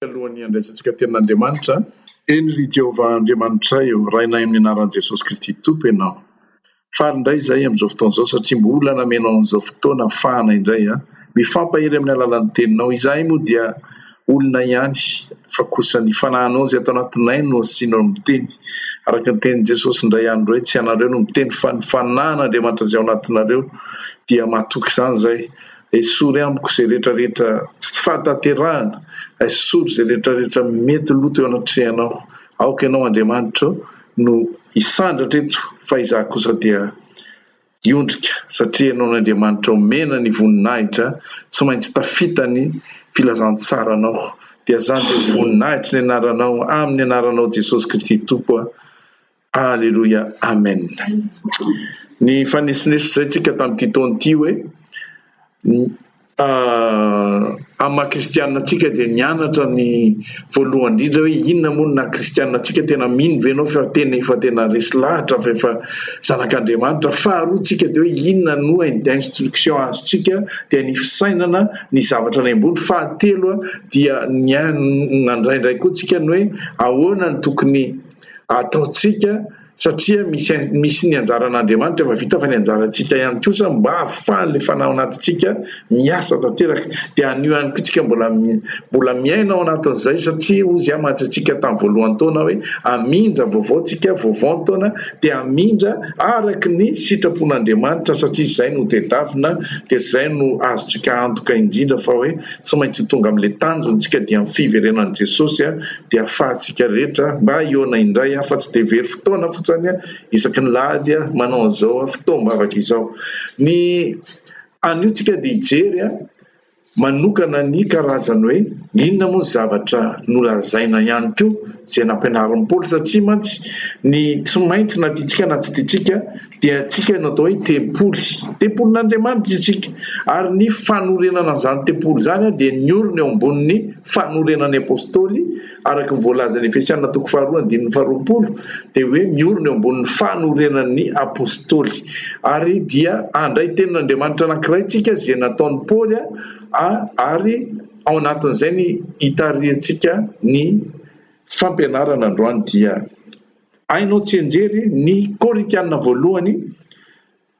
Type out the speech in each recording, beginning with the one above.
alohan'ny handraisantsika tenin'Andriamanitra. Eny ry Jehovah Andriamanitray ô, rainay amin'ny anaran'i Jesosy Kristy Tompo ianao. Faly indray izahay amin'izao fotoana izao satria mbola namenao an'izao fotoana hafahana indray mifampahery amin'ny alalan'ny teninao. Izahay moa dia olona ihany fa kosa ny fanahinao izay ato anatinay no asianao ny miteny. Araka ny tenin'i Jesosy indray andro hoe tsy ianareo no miteny fa ny fanahin'Andriamanitra izay ao anatinareo dia mahatoky izany izahay. Esory amiko izay rehetra rehetra tsy fahatanterahana, esory izay rehetra rehetra mety lo teo anatrehanao, aoka Ianao Andriamanitro no hisandratra eto fa izaho kosa dia hiondrika satria Ianao no Andriamanitra omena ny voninahitra, tsy maintsy tafita ny filazantsaranao, dia zany dia voninahitry ny Anaranao, amin'ny Anaranao Jesosy Kristy Tompo a! Aleloia Amen ny fanesinesa izay tsika tamin'ity taona ity hoe amin'ny maha kristianina antsika dia nianatra ny voalohany indrindra hoe inona moa ny naha kristianina antsika tena mino ve ianao fa tena efa tena resy lahatra fa efa zanak'Andriamanitra faharoa tsika dia hoe inona no hoe ny instruction azotsika dia ny fisainana ny zavatra any ambony fahatelo dia ny nandray indray koa tsika ny hoe ahoana ny tokony ataontsika satria misy misy ny anjaran'Andriamanitra efa vita fa ny anjarantsika ihany kosa mba hahafahan'ilay fanahy ao anatintsika miasa tanteraka dia anio ihany koa tsika mbola mbola miaina ao anatin'izay satria hozy aho mahatsatsika tamin'ny voalohany taona hoe amindra vaovao tsika vaovao ny taona dia amindra araka ny sitrapon'Andriamanitra satria izay no tedavina dia izay no azotsika antoka indrindra fa hoe tsy maintsy ho tonga amin'ilay tanjontsika dia ny fiverenan'i Jesosy dia afahantsika rehetra mba hihaona indray aho fa tsy dia very fotoana fotsany aho isaky ny lahady aho manao an'izao fotoam-bavaka izao. Ny anio tsika dia hijery manokana ny karazany hoe inona moa ny zavatra nolazaina ihany koa izay nampianarin'i Paoly satria mantsy ny tsy maintsy na tiantsika na tsy tiantsika dia antsika no atao hoe tempoly, tempolin'Andriamanitra isika, ary ny fanorenana an'izany tempoly izany dia niorina eo ambonin'ny fanorenan'ny Apostoly, araka ny voalazan'ny Efesiana toko faharoa andininy faharoapolo, dia hoe miorina eo ambonin'ny fanorenan'ny Apostoly, ary dia handray tenin'Andriamanitra anankiray tsika izay nataon'i Paoly a, ary ao anatin'izay ny hitarihantsika ny fampianarana androany dia. Hainao tsianjery ny Korintiana voalohany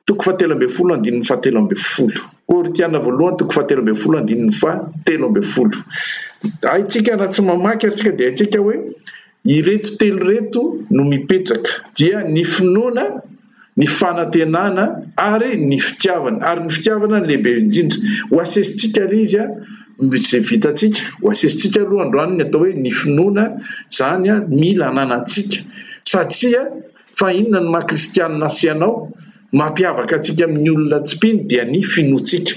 toko fahatelo ambin'ny folo andininy fahatelo ambin'ny folo. Korintiana voalohany toko fahatelo ambin'ny folo andininy fahatelo ambin'ny folo. Haintsika raha tsy mamaky ary tsika dia haintsika hoe ireto telo ireto no mipetraka dia ny finoana, ny fanantenana ary ny fitiavana, ary ny fitiavana no lehibe indrindra. Ho asesintsika anie izy izay vitantsika, ho asesintsika aloha androany ny atao hoe ny finoana, izany mila ananantsika satria fa inona ny maha kristianina sy anao, mampiavaka antsika amin'ny olona tsy mpino dia ny finoantsika.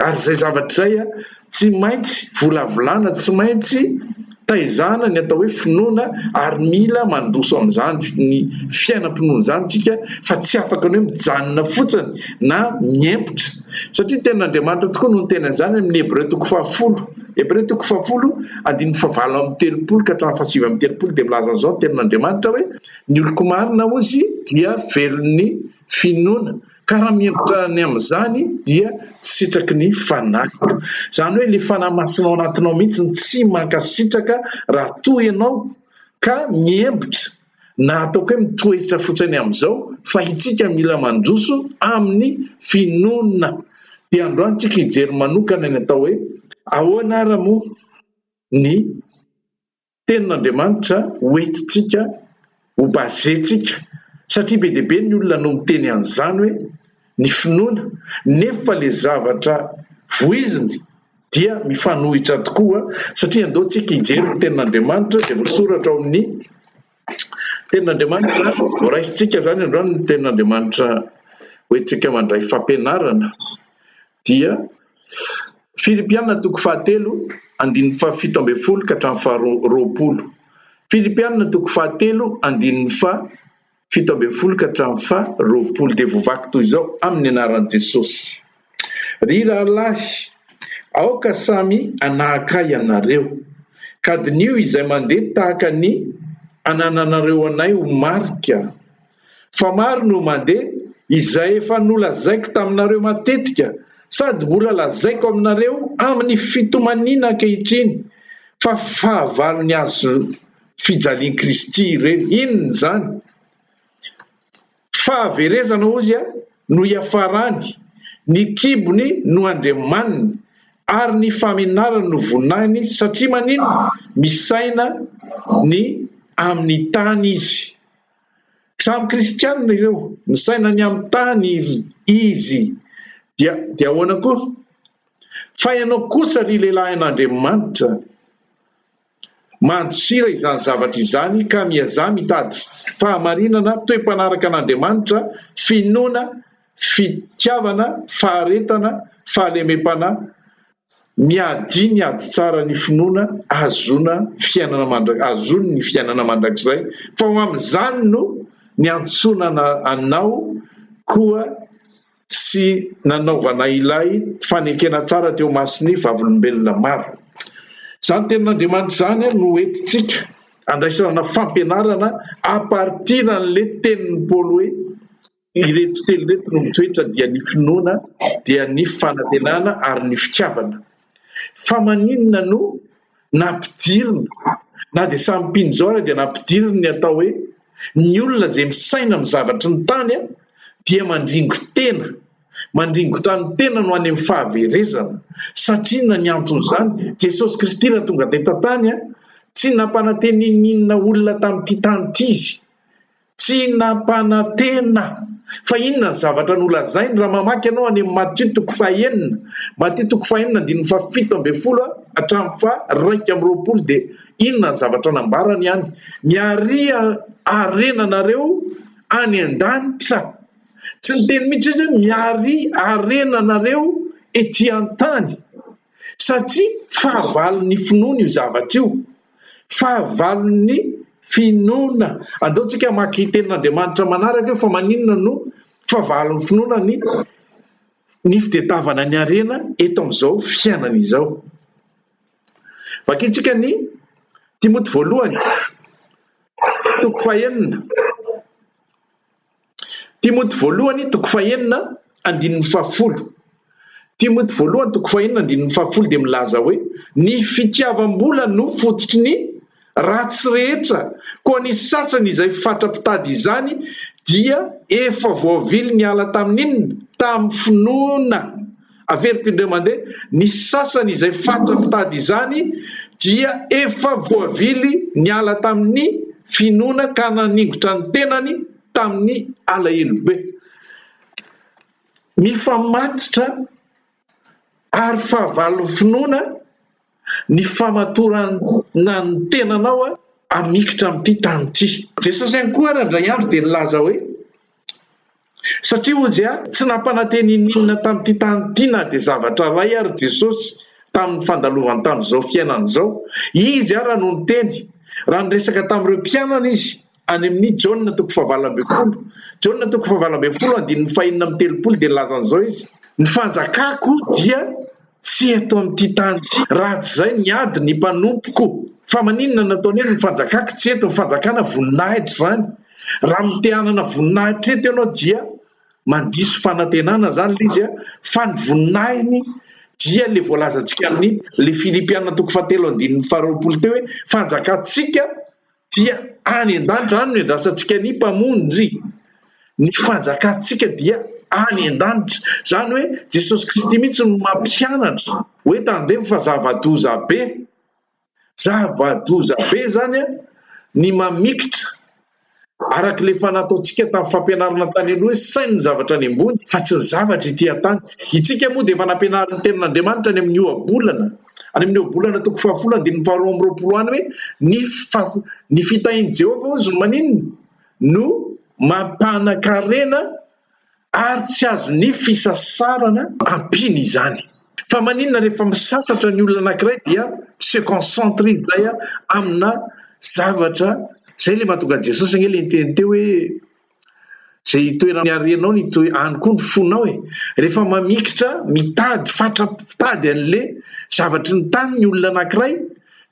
Ary izay zavatra izay a, tsy maintsy volavolana, tsy maintsy taizana ny atao hoe finoana ary mila mandroso amin'izany ny fiainam-pinoana izany isika fa tsy afaka ny hoe mijanona fotsiny na miempotra satria ny tenin'Andriamanitra tokoa no niteny an'izany amin'ny Hebreo toko fahafolo. Hebreo toko fahafolo andininy fahavalo amin'ny telopolo ka hatramin'ny fahasivy amin'ny telopolo dia milaza an'izao ny tenin'Andriamanitra hoe ny oloko marina hozy dia velon'ny finoana. Ka raha mihemotra ny amin'izany dia tsy sitraky ny Fanahy. Izany hoe ilay Fanahy Masina ao anatinao mihitsy no tsy mankasitraka raha toa ianao ka mihemotra na ataoko hoe mitoetra fotsiny amin'izao fa itsika mila mandroso amin'ny finoana. Dia androany tsika hijery manokana ny atao hoe ahoana ara moa ny Tenin'Andriamanitra ho entintsika, ho base-ntsika, satria be dia be ny olona no miteny an'izany hoe ny finoana, nefa ilay zavatra voiziny dia mifanohitra tokoa, satria andao tsika hijery ny Tenin'Andriamanitra izay voasoratra ao amin'ny Tenin'Andriamanitra, horaisintsika izany androany ny Tenin'Andriamanitra hoentintsika mandray fampianarana, Dia, Filipiana toko fahatelo, andininy fahafito ambin'ny folo ka hatramin'ny faharoa roapolo. Filipiana toko fahatelo, andininy faha fito ambin'ny folo ka hatramin'ny faha roapolo. Dia voavaky toy izao, Amin'ny anaran'i Jesosy. Ry rahalahy, aoka samy hanahaka ahy ianareo, ka diniho izay mandeha tahaka ny anananareo anay ho marika. fa maro no mandeha izay efa nolazaiko taminareo matetika sady mbola lazaiko aminareo amin'ny fitomaniana ankehitriny fa fahavalon'ny hazo fijalian'i Kristy ireny. Inona izany? Fahaverezana hozy no iafarany, ny kibony no andriamaniny ary ny famenarany no voninahiny satria maninona? Misaina ny amin'ny tany izy. Samy kristianina ireo, misaina any amin'ny tany ry izy. Dia, dia ahoana koa? Fa ianao kosa ry lehilahin'Andriamanitra, mandosira izany zavatra izany ka miazaha mitady fahamarinana, toe-panaraka an'Andriamanitra, finoana, fitiavana, faharetana, fahalemem-panahy, ny adia, ny ady tsara, ny finoana ahazoana fiainana mandra- ahazoany ny fiainana mandrakizay, fa ho amin'izany no niantsoana ana- anao koa sy nanaovana ilay fanekena tsara teo imason'ny vavolombelona maro. Izany tenin'Andriamanitra izany no entintsika andraisana fampianarana à partir an'ilay tenin'i Paoly hoe. Ireto telo ireto no mitoetra dia ny finoana dia ny fanantenana ary ny fitiavana. Fa maninona no nampidirina na dia samy mpino izao ary dia nampidiriny ny atao hoe ny olona izay misaina amin'ny zavatry ny tany dia mandringo tena, mandringotrano tena no any amin'ny fahaverezana satria na ny anton'izany Jesosy Kristy raha tonga teto an-tany tsy nampananteny n'inona olona tamin'ity tany ity Izy Tsy nampanantena. Fa inona ny zavatra nolazainy? Raha mamaky ianao any amin'ny Matio toko fahenina, Matio toko fahenina andininy fahafito ambin'ny folo hatramin'ny faharaika amby roapolo dia inona ny zavatra nambarany any? Miarỳ harenanareo any an-danitra. Tsy niteny mihitsy izy hoe miarỳ harenanareo etỳ an-tany. Satria fahavalon'ny finoany io zavatra io. Fahavalon'ny finoana. Andao tsika hamaky tenin'Andriamanitra manaraka eo fa maninona no fahavalon'ny finoana ny ny fitedavana ny harena eto amin'izao fiainana izao. Vakintsika ny Timoty voalohany toko fahenina. Timoty Voalohany toko fahenina andininy fahafolo Timoty Voalohany toko fahenina andininy fahafolo dia milaza hoe, Ny fitiavam-bola no fototry ny ratsy rehetra, koa ny sasany izay fatra-pitady izany dia efa voavily niala tamin'inona? tamin'ny finoana. Averiko indray mandeha, ny sasany izay fatra mitady izany dia efa voavily niala tamin'ny finoana ka naningotra ny tenany tamin'ny alahelo be. Mifamatotra ary fahavalon'ny finoana. ny famatoranana ny tenanao hamikitra amin'ity tany ity. Jesosy ihany koa ary indray andro dia nilaza hoe, Satria hoy Izy, tsy nampanantena ininona tamin'ity tany ity na dia zavatra iray ary Jesosy tamin'ny fandalovany tamin'izao fiainana izao. Izy ary no niteny, raha niresaka tamin'ireo mpianany Izy. Any amin'ny Jaona toko fahavalo ambin'ny folo. Jaona toko fahavalo ambin'ny folo andininy fahenina amby telopolo dia nilaza an'izao izy, Ny fanjakako dia tsy eto amin'ity tany ity, raha tsy izay niady ny mpanompoko. Fa maninona no nataony hoe ny fanjakako tsy eto? Ny fanjakana voninahitra izany. Raha mite-hanana voninahitra eto ianao dia mandiso fanantenana izany ilay izy, fa ny voninahiny dia ilay voalazantsika amin'ny ilay Filipiana toko fahatelo andininy faharoapolo teo hoe fanjakantsika dia any an-danitra any no iandrasantsika ny Mpamonjy, ny fanjakantsika dia any an-danitra, izany hoe Jesosy Kristy mihitsy no mampianatra hoe tandremo fa zava-doza be, zava-doza be izany ny mamikitra araka ilay efa nataontsika tamin'ny fampianarana tany aloha hoe saino ny zavatra any ambony fa tsy ny zavatra ety an-tany, isika moa dia efa nampianarin'ny Tenin'Andriamanitra any amin'ny ohabolana. any amin'ireo bolana toko fahafolo andininy faharoa amby roapolo any hoe ny fa- ny fitahin'i Jehovah hozy no maninona no mampanan-karena ary tsy azon'ny fisasarana ampiana izany. Fa maninona rehefa misasatra ny olona anankiray dia tsy se concentre izy izay a, amina zavatra izay le mahatonga an'i Jesosy anie le niteny teo hoe Zay toerana niarenao ny to any koa ny fonao e! Rehefa mamikitra mitady fatra-pitady anle zavatry ny tany ny olona anankiray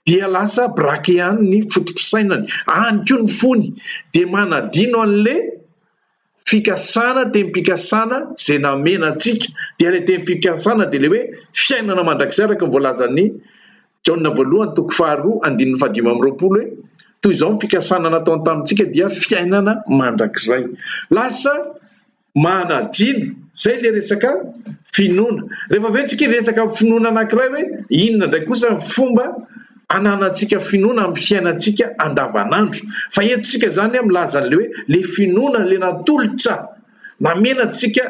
dia lasa braquer any ny foto-pisainany, any koa ny fony dia manadino anle fikasana temim-pikasana zay namena antsika dia le temim-fikasana dia le hoe fiainana mandrakizay araka ny voalazan'ny Jaona voalohany toko faharoa andininy fahadimy amby roapolo hoe, Toy izao ny fikasana nataony tamintsika dia fiainana mandrakizay. Lasa manadino. Izay ilay resaka finoana. Rehefa avy eo tsika hiresaka ny finoana anankiray hoe inona indray kosa ny fomba ananantsika finoana amin'ny fiainantsika andavanandro. Fa eto tsika izany milaza an'ilay hoe ilay finoana ilay natolotra namena antsika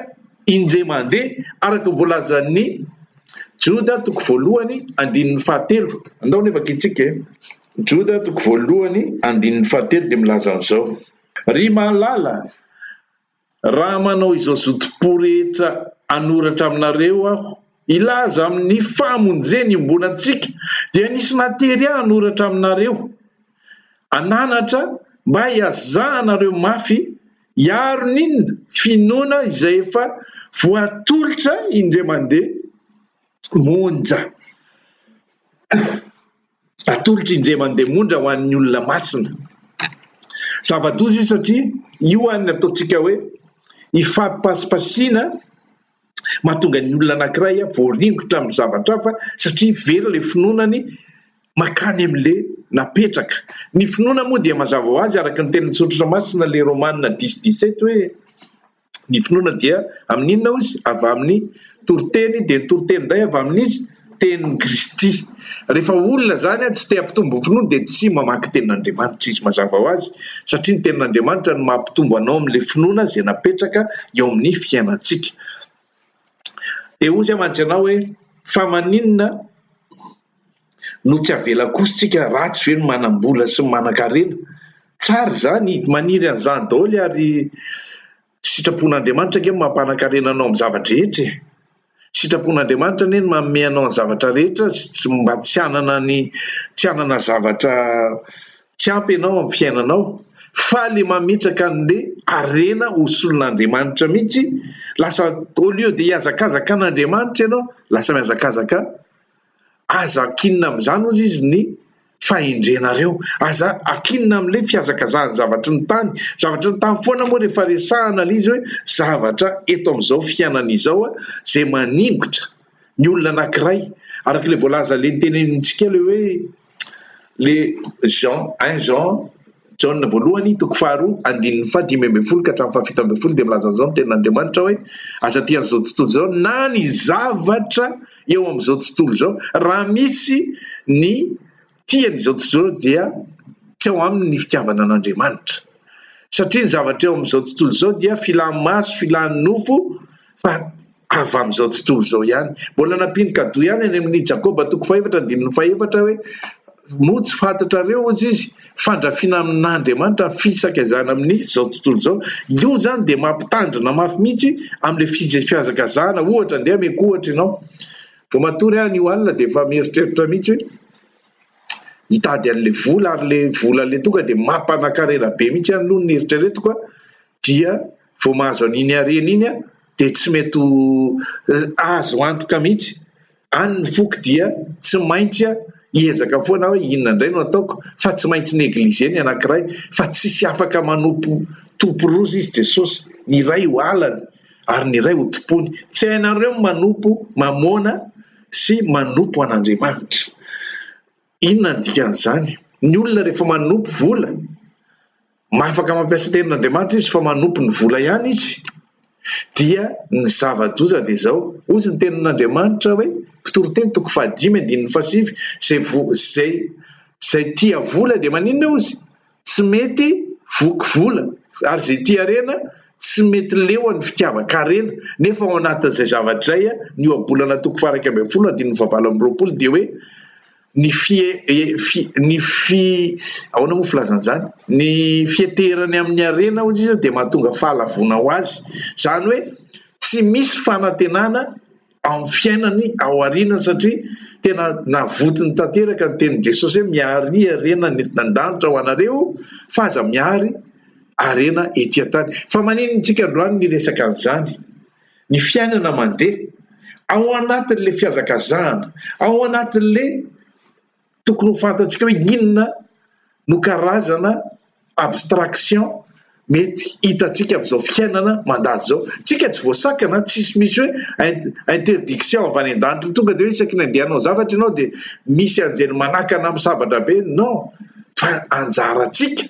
indray mandeha araka ny voalazan'ny Joda toko voalohany andininy fahatelo, andao anie vakintsika e! Joda toko voalohany andininy fahatelo dia milaza an'izao, Ry mahalala, raha manao izao zotom-po rehetra hanoratra aminareo aho hilaza amin'ny fahamonjeny iombonantsika, dia nisy natery ahy hanoratra aminareo an'anatra mba hiazahanareo mafy hiaro ny inona? finoana izay efa voatolotra indray mandeha monja atolotra indray mandeha monja ho an'ny olona masina zava-doza io satria io any ataontsika hoe hifampipasipasiana Mahatonga ny olona anankiray voaringotra amin'ny zavatra hafa satria very ilay finoanany makany amin'ilay napetraka. Ny finoana moa dia mazava ho azy araka ny tenin'ny Soratra Masina ilay Romana dix dix sept hoe ny finoana dia amin'ny inona hozy? Avy amin'ny toriteny dia ny toriteny indray avy amin'iza? tenin'i Kristy. Rehefa olona izany tsy te hampitombo ny finoany dia tsy mamaky ny tenin'Andriamanitra izy. Mazava ho azy satria ny tenin'Andriamanitra no mampitombo anao amin'ilay finoana izay napetraka eo amin'ny fiainantsika. Dia hoy izy mantsy ianao hoe fa maninona no tsy avela kosa tsika ratsy ve ny manam-bola sy ny manan-karena? Tsara izany, maniry an'izany daholo ary Sitrapon'Andriamanitra ange no mampanan-karena anao amin'ny zava-drehetra e! Sitrapon'Andriamanitra anie ny manome anao ny zavatra rehetra sy tsy mba tsy hanana ny tsy hanana zavatra tsy ampy ianao amin'ny fiainanao fa ilay mametraka an'ilay harena ho solon'Andriamanitra mihitsy lasa au lieu de hihazakazaka an'Andriamanitra ianao lasa mihazakazaka Aza ankinina amin'izany, hozy izy, ny fahendrenareo. Aza ankinina amin'ilay fihazakazahan'ny zavatry ny tany. Zavatry ny tany foana moa rehefa resahana ilay izy hoe zavatra eto amin'izao fiainana izao izay maningotra ny olona anankiray. Araka ilay voalaza, ilay notenenintsika ilay hoe. Ilay Jean, un Jean, Jaona voalohany, toko faharoa, andininy fahadimy ambin'ny folo ka hatramin'ny fahafito ambin'ny folo dia milaza an'izao ny Tenin'Andriamanitra hoe, Aza tia an'izao tontolo izao na ny zavatra eo amin'izao tontolo izao. Raha misy ny tia an'izao tontolo izao dia tsy ao aminy ny fitiavana an'Andriamanitra. Satria ny zavatra eo amin'izao tontolo izao dia filan'ny maso, filan'ny nofo. fa avy amin'izao tontolo izao ihany. Mbola nampiany cadeau ihany any amin'ny Jakoba toko fahefatra andininy fahefatra hoe moa tsy fantatrareo hozy izy fandrafiana amin'Andriamanitra ny fisakazahana amin'izao tontolo izao. Io izany dia mampitandrina mafy mihitsy amin'ilay fizfihazakazahana ohatra andeha ameko ohatra ianao vao matory any io alina dia efa mieritreritra mihitsy hoe hitady an'ilay vola ary ilay vola ilay toka dia mampanakarena be mihitsy any aloha ny eritreretiko a. dia vao mahazo an'iny harena iny aho dia tsy mety ho azo antoka mihitsy. Any ny foko dia tsy maintsy hiezaka foana aho hoe inona indray no ataoko fa tsy maintsy negliger ny anankiray fa tsisy afaka manompo tompo roa izy Jesosy, ny iray ho alany ary ny iray ho tompony. Tsy hainareo ny manompo Mamôna sy manompo an'Andriamanitra. Inona ny dikan'izany? Ny olona rehefa manopy vola, afaka mampiasa tenin'Andriamanitra izy fa manopy ny vola ihany izy, dia ny zava-doza dia izao, hozy ny tenin'Andriamanitra hoe, mpitory teny toko fahadimy andininy fahasivy, izay izay tia vola dia maninona hozy? tsy mety voky vola ary izay tia harena tsy mety leo an'ny fitiavan-karena nefa ao anatin'izay zavatra izay ny ohabolana toko fahara iraika ambin'ny folo andininy fahavalo amby roapolo dia hoe ny fie fi ny fi ahoana moa filazana izany ny fieteherany amin'ny harena hozy izy dia mahatonga fahalavoana ho azy izany hoe tsy misy fanantenana amin'ny fiainany ao aoriana satria tena navotony tanteraka ny tenin'i Jesosy hoe miary harena ny entina an-danitra ho anareo fa aza miary harena ety an-tany. Fa maninona isika androany miresaka an'izany? Ny fiainana mandeha ao anatin'ilay fihazakazahana, ao anatin'ilay Tokony ho fantatsika hoe inona no karazana abstraction mety hitantsika amin'izao fiainana mandalo izao. Tsika tsy voasakana, tsisy misy hoe interdiction avy any an-danitra tonga dia hoe isaky ny andeha hanao zavatra ianao dia misy anjely manakana amin'ny sabatra be, non, fa anjarantsika.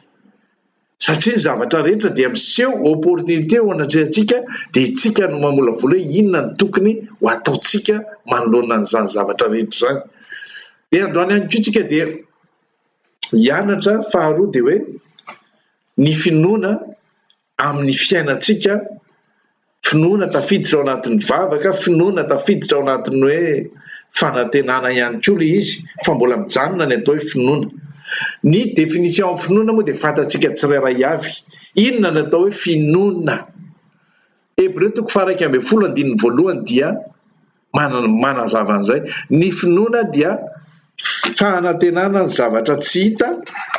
satria ny zavatra rehetra dia miseho opportunité eo anatrehantsika dia itsika no mamolavola hoe inona ny tokony ho ataontsika manoloana an'izany zavatra rehetra izany dia androany ihany koa tsika dia hianatra faharoa dia hoe ny finoana amin'ny fiainantsika finoana tafiditra ao anatin'ny vavaka, finoana tafiditra ao anatin'ny hoe fanantenana ihany koa ilay izy fa mbola mijanona ny atao hoe finoana. Ny définition finoana moa dia fantatsika tsirairay avy. Inona no atao hoe finoana? Hebreo toko faha iraika ambin'ny folo andininy voalohany dia manazava an'izay. Ny finoana dia fanantenana ny zavatra tsy hita,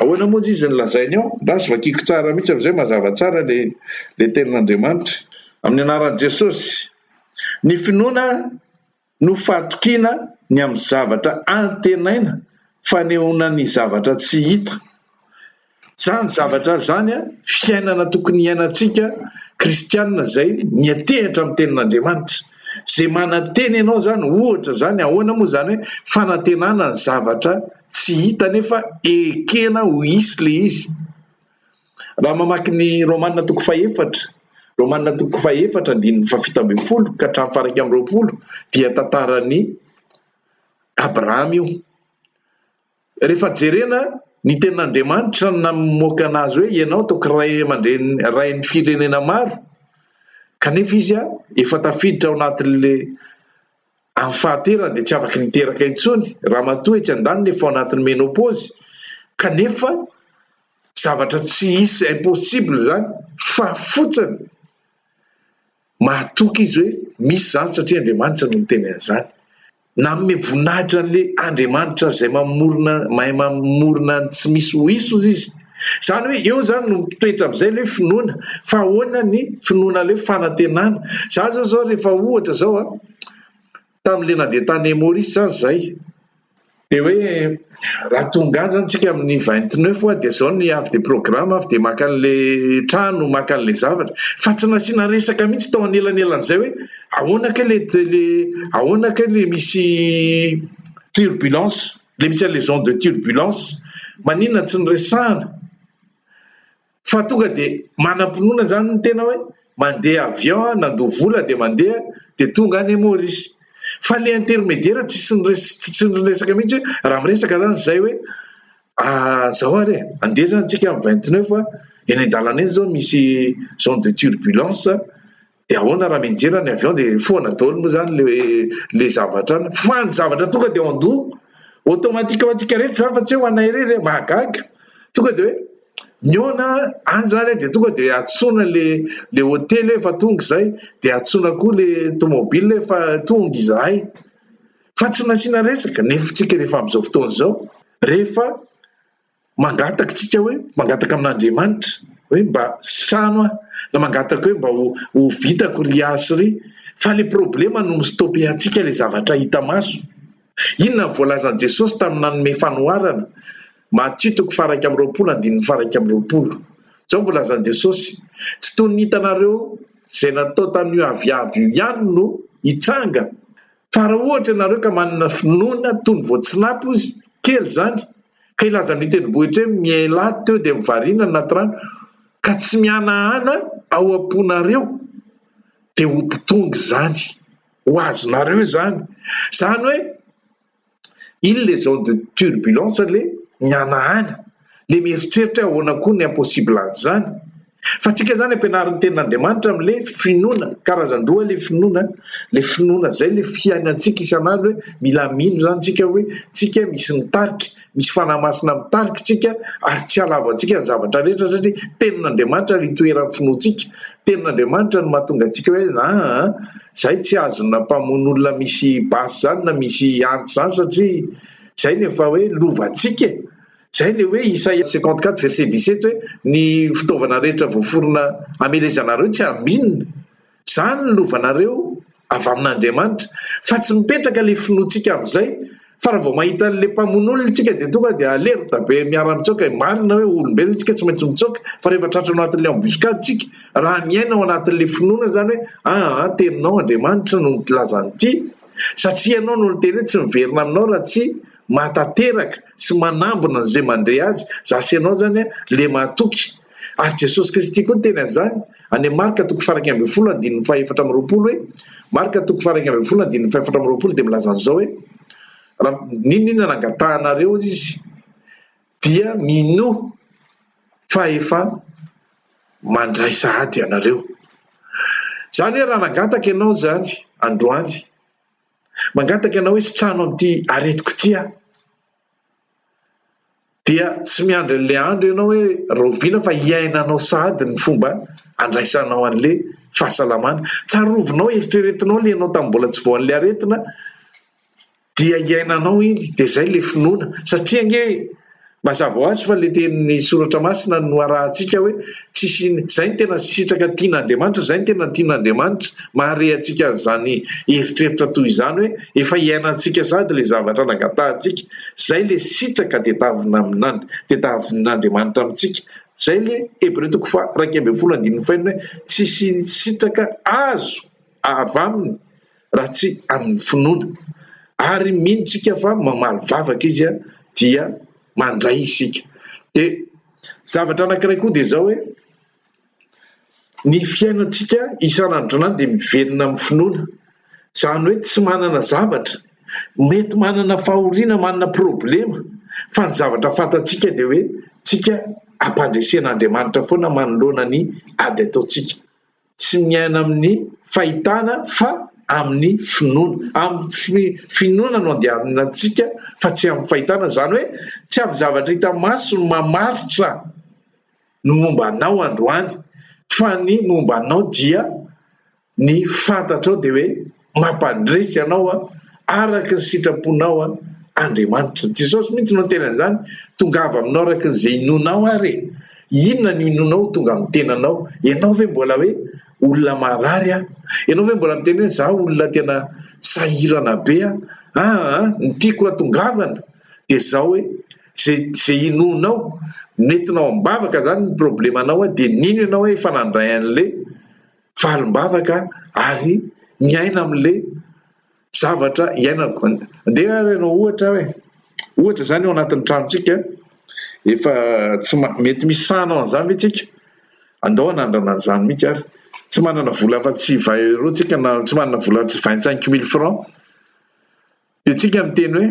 ahoana moa izy no lazainy ao? Angaha azo vakiako tsara mihitsy amin'izay mazava tsara ilay tenin'Andriamanitra. Amin'ny anaran'i Jesosy. Ny finoana no fahatokiana ny amin'ny zavatra antenaina, fanehoana ny zavatra tsy hita. Zany zavatra zany an fiainana tokony hiainantsika kristianina zay miantehatra am tenin'Andriamanitra. Ze manantena ianao zany ohatra zany ahoana moa zany hoe fanantenana ny zavatra tsy hita nefa ekena ho hisy le izy. Raha mamaky ny Romana toko fahefatra Romana toko fahefatra andininy fahafito ambin'ny folo ka hatramin'ny faha iraika amby roapolo dia tantaran'i Abrahama io. Rehefa jerena, ny tenin'Andriamanitra namoaka anazy hoe ianao toky ray aman-dreny rain'ny firenena maro, kanefa izy efa tafiditra ao anatin'le amin'ny fahaterany dia tsy afaky niteraka intsony, ramatoa etsy andaniny efa ao anatin'ny menopause, kanefa zavatra tsy hisy impossible izany fa fotsiny Mahatoky izy hoe misy izany satria Andriamanitra no niteny an'izany. Nanome voninahitra an'ilay Andriamanitra izay mamorona, mahay mamorona ny tsy misy ho hisy hozy izy. Izany hoe eo izany no mitoetra amin'izay ilay finoana. Fa ahoana ny finoana ilay fanantenana? Izaho izao izao rehefa ohatra izao a. Tamin'ilay nandeha tany Maurice aza izahay dia hoe raha tonga any izany isika amin'ny vingt neuf hoa dia izao ny avy dia programme avy dia maka an'ilay trano, maka an'ilay zavatra. Fa tsy nasiana resaka mihitsy tao anelanelan'izay hoe ahoana kay ilay ilay ahoana kay ilay misy turbulence, ilay misy an'ilay zone de turbulence, maninona tsy niresahana? Fa tonga dia manam-pinoana izany ny tena hoe mandeha avion aho, nandoa vola dia mandeha dia tonga any Maurice. Fa ilay intermédiaire tsisy niresaka mihitsy hoe raha miresaka izany izay hoe izao ary e, andeha izany tsika amin'ny vingt neuf eny an-dalana eny izao misy zone de turbulence De ahoana raha mianjera ny avion de foana daholo moa zany le le zavatra any fa ny zavatra tonga de ao an-doha automatique ho antsika rehetra zany fa tsy hoe ho anay irery e, mahagaga, tonga de hoe mihaona any zany de tonga de antsoina le le hotely hoe efa tonga izay de antsoina koa le tomobile hoe efa tonga izahay fa tsy nasiana resaka, nefa isika rehefa amin'izao fotoana izao rehefa. mangataka isika hoe mangataka amin'Andriamanitra hoe mba sitrano aho na mangataka hoe mba ho vitako ry ahy sy ry fa ilay problema no mi-stopper-ntsika ilay zavatra hita maso. Inona no voalazan'i Jesosy tamin'ny nanome fanoharana? Matthieu toko faharaika amby roapolo andininy faharaika amby roapolo. Izao no voalazan'i Jesosy, Tsy toy ny hitanareo izay natao tamin'io aviavy io ihany no hitranga. Fa raha ohatra ianareo ka manana finoana toy ny voatsinapy ozy, kely izany, Ka ilazan'ny tendrombohitra hoe miainlah teo dia mivarina ny anaty rano ka tsy mihanahana ao am-ponareo dia ho mpitonga izany ho azonareo izany. Izany hoe il les ont de turbulence le mihanahana le mieritreritra hoe ahoana koa ny impossible an'izany Fa tsika zany ampianarin'ny tenin'Andriamanitra am le finoana, karazan-droa le finoana, le finoana zay le fiainantsika isan'andro hoe mila mino zany tsika hoe tsika misy mitarika, misy Fanahy Masina mitarika tsika ary tsy halavo antsika ny zavatra rehetra satria tenin'Andriamanitra le itoeran'ny finoantsika, tenin'Andriamanitra no mahatonga antsika hoe aa zay tsy azona mpamono olona misy basy zany na misy antsy zany satria zay no efa hoe lovantsika e! Izay ilay hoe Isaia cinquante quatre verset dix sept hoe ny fitaovana rehetra voaforona hamelezanareo tsy hambinina. Izany no lovanareo avy amin'Andriamanitra. Fa tsy mipetraka ilay finoantsika amin'izay. Fa raha vao mahita an'ilay mpamono olona isika dia tonga dia alerta be miara mitsoaka. Marina hoe olombelona isika tsy maintsy mitsoaka fa rehefa tratra ao anatin'ilay embuscade isika raha miaina ao anatin'ilay finoana izany hoe aa ah, teninao Andriamanitra no nilaza an'ity satria ianao no niteny hoe tsy miverina aminao raha tsy Mahatanteraka sy manambina an'izay mandre azy za sy ianao izany le mahatoky. Ary Jesosy Kristy koa niteny an'izany, any amin'ny Marka toko faha-iraika ambin'ny folo andininy faha-efatra amby roapolo hoe, Marka toko faha-iraika ambin'ny folo andininy faha-efatra amby roapolo dia milaza an'izao hoe, Raha n'inon'inona nangatahanareo Izy, dia minoa fa efa mandray sahady ianareo. Izany hoe raha nangataka ianao izany androany, Mangataka ianao hisitrano amin'ity aretiko ity aho. Dia tsy miandry an'ilay andro ianao hoe rahoviana fa hiainanao sahady ny fomba andraisanao an'ilay fahasalamana. Tsarovinao, eritreretinao ilay ianao tamin'ny mbola tsy voan'ilay aretina dia hiainanao iny, dia izay ilay finoana satria ange Mazava ho azy fa ilay tenin'ny Soratra Masina no arahantsika hoe tsy siny. Izay no tena sitraka tian'Andriamanitra, izay no tena tian'Andriamanitra. Mahare antsika an'izany eritreritra toy izany hoe efa iainantsika sahady ilay zavatra nangatahantsika. Izay ilay sitraka tedavina amin'And. Tediavin'Andriamanitra amintsika. Izay ilay Hebreo toko faha iraika ambin'ny folo andininy fahenina hoe tsy siny sitraka azo avy aminy raha tsy amin'ny finoana. Ary mino tsika fa mamaly vavaka izy dia mandray isika. Dia zavatra anankiray koa dia izao hoe, ny fiainantsika isan'andronany dia miverina amin'ny finoana. Izany hoe tsy manana zavatra, mety manana fahoriana, manana problema, fa ny zavatra fantatsika dia hoe, tsika ampandresen'Andriamanitra foana manoloana ny ady ataontsika. tsy miaina amin'ny fahitana fa amin'ny finoana, amin'ny finoana no andehanana antsika fa tsy amin'ny fahitana, izany hoe tsy amin'ny zavatra hita maso no mamaritra ny momba anao androany fa ny momba anao dia ny fantatrao dia hoe. Mampandresy anao araka ny sitraponao Andriamanitra. Jesosy mihitsy no niteny an'izany, tongava aminao araka izay inoanao ary e! Inona no inoanao ho tonga amin'ny tenanao? Ianao ve mbola hoe olona marary aho? Ianao ve mbola miteny hoe izaho olona tena sahirana be aho? Aa! ny tiako hatongavana dia izao hoe, izay izay inoanao, nentinao am-bavaka izany ny problemanao dia nino ianao hoe efa nandray an'le valim-bavaka ary miaina amin'le zavatra iainako. Andeha ary ianao ohatra hoe, ohatra izany ao anatin'ny tranontsika, efa tsy ma- mety misy sahana ao an'izany ve tsika? Andao hanandrana an'izany mihitsy ary. Tsy manana vola afa-tsy vin euro tsika na tsy manana vola afa-tsy vingt cinq mille francs. Dia tsika miteny hoe,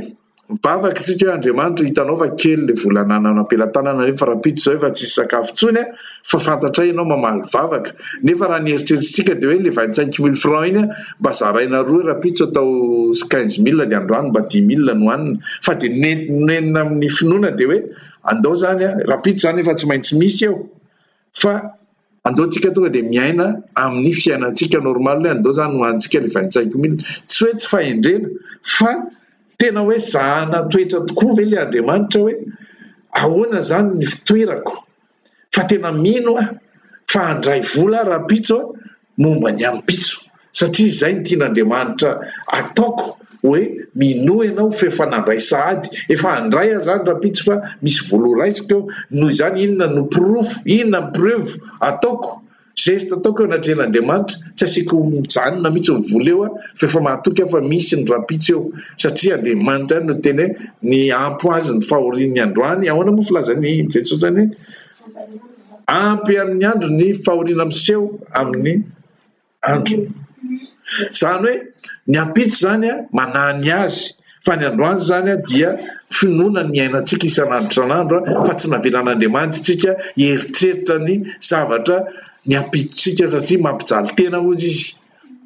mivavaka isika hoe Andriamanitra hitanao fa kely ilay vola anananao am-pelatanana nefa rahampitso izao efa tsisy sakafo intsony a, fa fantatray ianao mamaly vavaka. Nefa raha ny eritreritrintsika dia hoe ilay vingt cinq mille francs iny a, mba zaraina roa rahampitso atao quinze mille dia androany mba dix mille no hanina. Fa dia nentina amin'ny finoana dia hoe, andao izany a, rahampitso izany efa tsy maintsy misy eo. fa andao tsika tonga dia miaina amin'ny fiainantsika normal hoe andao zany hoantsika le vaintsaiko mila tsy hoe tsy fahendrena fa tena hoe zahana toetra tokoa ve le andriamanitra hoe ahoana zany ny fitoerako fa tena mino aho fa handray vola rahampitso aho momba ny ampitso satria izay ny tian'Andriamanitra ataoko hoe minoa ianao f'efa nandray sahady efa handray aho zany rampitso fa misy vola ho raisiko eo noho izany inona no porofo inona ny preuve ataoko geste ataoko eo anatrehan'Andriamanitra tsy asiako mijanona mihitsy ny vola eo aho f'efa mahatoky aho fa misy ny rampitso eo satria Andriamanitra no teny hoe ny ampo azy ny fahorian'ny androany ahoana moa filazan'i Jesosy zany hoe Ampy amin'ny andro ny fahoriana miseho amin'ny androny. Izany hoe ny ampitso izany manahy ny azy fa ny androany izany dia finoana ny iainantsika isan'andro isan'andro fa tsy navelan'Andriamanitra isika hieritreritra ny zavatra ny ampitsontsika satria mampijaly tena hoy izy.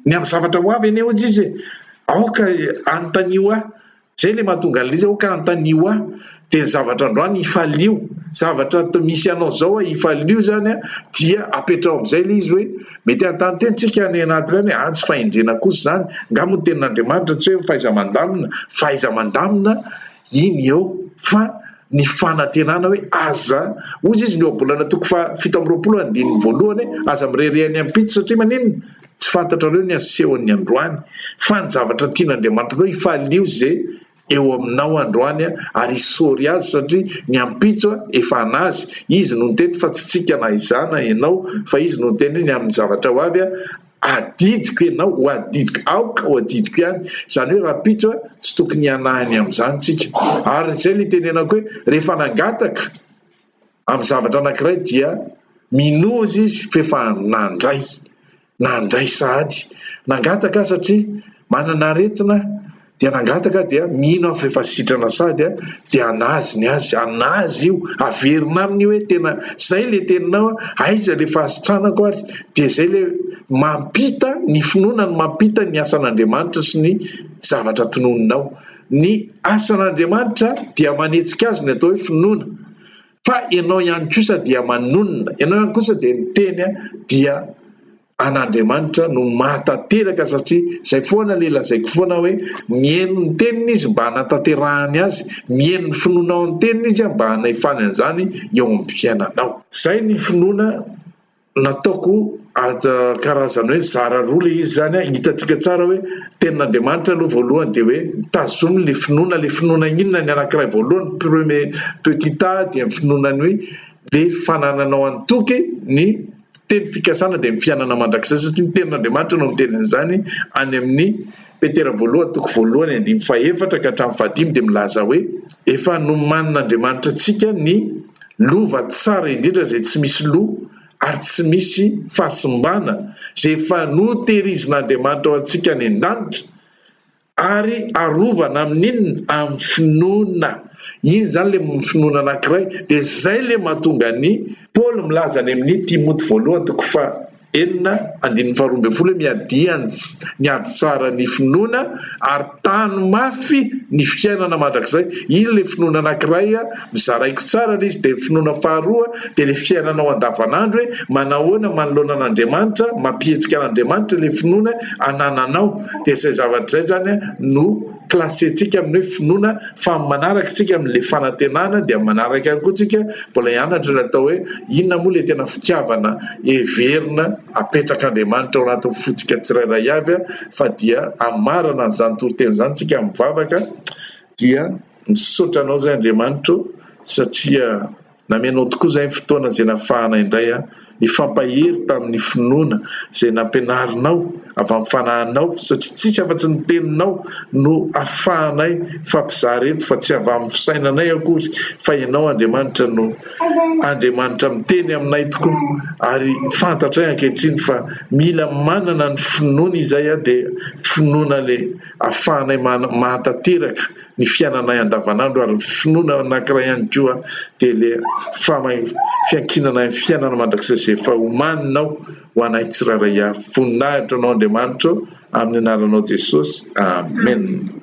Ny amin'ny zavatra ho avy anie hoy izy e! aoka anontanio ahy. Zay le mahatonga anle izy ka antanio ahy de ny zavatra androany hifalio zavatra atao misy anao zao a hifalio zany a dia apetraho amizay le izy hoe mety hanontany tena tsika any anaty reny hoe a tsy fahendrena kosa zany nga moa ny tenin'Andriamanitra tsy hoe fahaizamandamina fahaizamandamina iny eo fa ny fanantenana hoe aza hoy izy ny ohabolana toko faha fito amby roapolo andininy voalohany hoe aza mirehareha any ampitso satria maninona Tsy fantatrareo ny asehon'ny androany, fa ny zavatra tian'Andriamanitra atao, Ifahalio ze eo aminao androany, ary isory azy, satria ny ampitso efa an'azy, izy no niteny, fa tsy tsika na izaho na ianao, fa izy no niteny hoe, ny amin'ny zavatra ho avy, adidiko ianao ho adidiko, aoka ho adidiko ihany, izany hoe rahampitso, tsy tokony hianahy ny amin'izany tsika, ary izay le itenenako hoe, rehefa nangataka, amin'ny zavatra anankiray dia minoaza izy f'efa nandray, nandray sahady, nangataka aho satria manana aretina dia nangataka aho dia mino aho f'efa sitrana sahady aho dia hanazy ny azy, hanazy io, haverina aminy io hoe tena izay ilay teninao, aiza ilay fahasitranako ary, dia izay ilay mampita ny finoana no mampita ny asan'Andriamanitra sy ny zavatra tononinao. Ny asan'Andriamanitra dia manetsika azy ny atao hoe finoana fa ianao ihany kosa dia manonona, ianao ihany kosa dia miteny dia an'Andriamanitra no mahatanteraka satria izay foana ilay lazaiko foana hoe mihaino ny teniny izy mba hanatanterahany azy, mihaino ny finoanao ny teniny izy mba hanahifany an'izany eo amin'ny fiainanao. Izay ny finoana nataoko karazana hoe zara roa ilay izy izany, hitantsika tsara hoe tenin'Andriamanitra aloha voalohany dia hoe tazomy ilay finoana, ilay finoana inona ny anankiray voalohany, premier petit A dia ny finoana ny hoe le fanananao an-toky ny teny fikasana dia ny fiainana mandrakizay satria ny tenin'Andriamanitra no miteny an'izany any amin'ny Petera voalohany toko voalohany andininy fahefatra ka hatramin'ny fahadimy dia milaza hoe, Efa nomanin'Andriamanitra antsika ny lova tsara indrindra izay tsy misy loha ary tsy misy fahasimbana, izay efa notehirizin'Andriamanitra ho antsika any an-danitra ary arovana amin'inona? amin'ny finoana. Iny izany ilay finoana anankiray dia izay ilay mahatonga an'i. Paoly milaza any amin'ny Timoty voalohany toko faha. Enina andininy faharoa ambin'ny folo hoe miadia ny ady tsara ny finoana ary tano mafy ny fiainana mandrakizay, iny ilay finoana anankiray a, mizara aiko tsara ilay izy, dia ny finoana faharoa dia ilay fiainanao andavanandro hoe manao ahoana manoloana an'Andriamanitra, mampihetsika an'Andriamanitra ilay finoana anananao, dia izay zavatra izay izany no. classe-tsika amin'ny hoe finoana fa amin'ny manaraka tsika amin'ilay fanantenana dia manaraka ihany koa tsika mbola hianatra ny atao hoe inona moa ilay tena fitiavana heverina apetrak'Andriamanitra ao anatin'ny fontsika tsirairay avy a fa dia amarana an'izany toriteny izany tsika amin'ny vavaka dia misaotra anao izay Andriamanitro satria Namianao tokoa izay ny fotoana izay nafahana indray aho hifampahery tamin'ny finoana izay nampianarinao avy amin'ny Fanahinao, satria tsy misy afa-tsy ny Teninao no afahanay mifampizara eto, fa tsy avy amin'ny fisainanay akory, fa Ianao Andriamanitra no Andriamanitra miteny aminay tokoa. Ary fantatray ankehitriny fa mila manana ny finoana izay aho, dia finoana ilay afahanay mahatanteraka, ny fiainanay andavanandro ary ny finoana anankiray ihany koa dia ilay fiankinana ny fiainana mandrakizay izay efa omaninao ho anay tsirairay avy. Voninahitra anao Andriamanitra ô, amin'ny anaranao Jesosy, Amena.